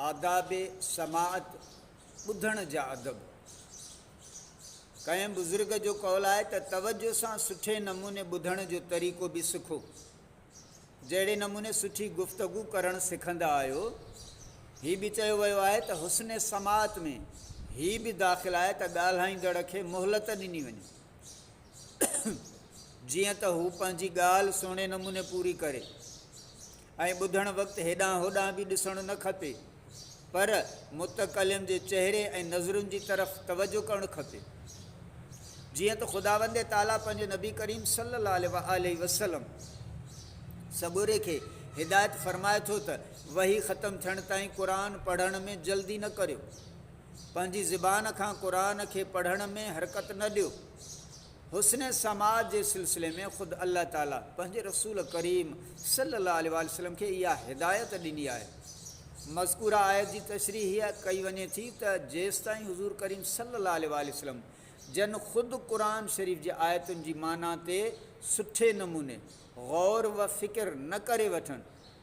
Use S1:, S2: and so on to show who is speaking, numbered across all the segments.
S1: آداب سماعت، ٻڌڻ جا ادب. ڪنهن بزرگ جو قول آهي ته توجه سان سٺي نموني ٻڌڻ جو طريقو به سکو. جهڙي نموني سٺي گفتگو ڪرڻ سکندا آهيو، هي به چيو ويو آهي ته حسن سماعت ۾ هي به داخل آهي ته ڳالهائيندڙ کي مهلت ڏني وڃي، جيئن ته هو پنهنجي ڳالهه سهڻي نموني پوري ڪري. ۽ ٻڌڻ وقت هيڏانهن هوڏانهن به ڏسڻ نه کپي پر متڪلم جي چهري ۽ نظرن جي طرف توجه ڪرڻ کپي جيئن ته خداوند تعالي پنهنجي نبي ڪريم صلي الله عليه واله وسلم سڳوري کي هدايت فرمائي ٿو ته وحي ختم ٿيڻ تائين قرآن پڙهڻ ۾ جلدي نه ڪريو پنهنجي زبان کان قرآن کي پڙهڻ ۾ حرڪت نه ڏيو حسن سماع جي سلسلي ۾ خود الله تعالي پنهنجي رسول ڪريم صلي الله عليه واٰله وسلم کي اها هدايت ڏني آهي. مذڪوره آيت جي تشريح هيء ڪئي وڃي ٿي ته جيستائين حضور ڪريم صلي الله عليه واٰله وسلم جن خود قرآن شريف جي آيتن جي معنيٰ تي سٺي نموني غور و فڪر نه ڪري وٺن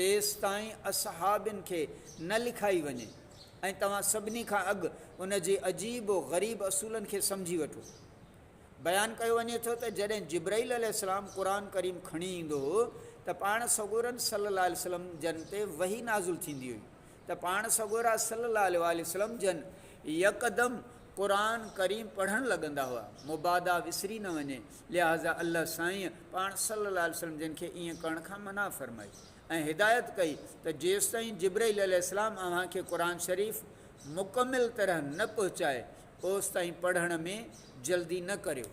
S1: تيستائين اصحابين کي نه لکائي وڃي ۽ توهان سڀني کان اڳ ان جي عجيب و غريب اصولن کي سمجهي وٺو. بيان ڪيو وڃي ٿو ته جڏهن جبرئيل عليه السلام قرآن ڪريم کڻي ايندو هو ته پاڻ سڳورن صلّي الله عليه وسلّم جن تي وحي نازل ٿيندي هئي ته پاڻ سڳورا صلّي الله عليه واٰله وسلّم جن يڪدم قرآن ڪريم پڙهڻ لڳندا هئا مبادا وسري نه وڃي لهٰذا الله سائين پاڻ صلّي الله عليه وسلّم جن کي ائين ڪرڻ کان منع فرمائي ۽ هدايت ڪئي ته جيستائين جبرئيل عليه السلام اوهان کي قرآن شريف مڪمل طرح نه پهچائي اوستائين پڙهڻ ۾ جلدي نه ڪريو.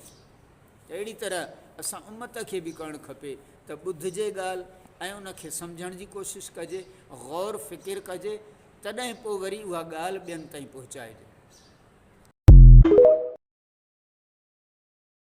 S1: اهڙي طرح اسان امت کي به ڪرڻ کپي ته ٻڌجي ڳالهه ۽ ان کي سمجهڻ جي ڪوشش ڪجي، غور فڪر ڪجي، تڏهن پوء وري اها ڳالهه ٻين تائين پهچائجي.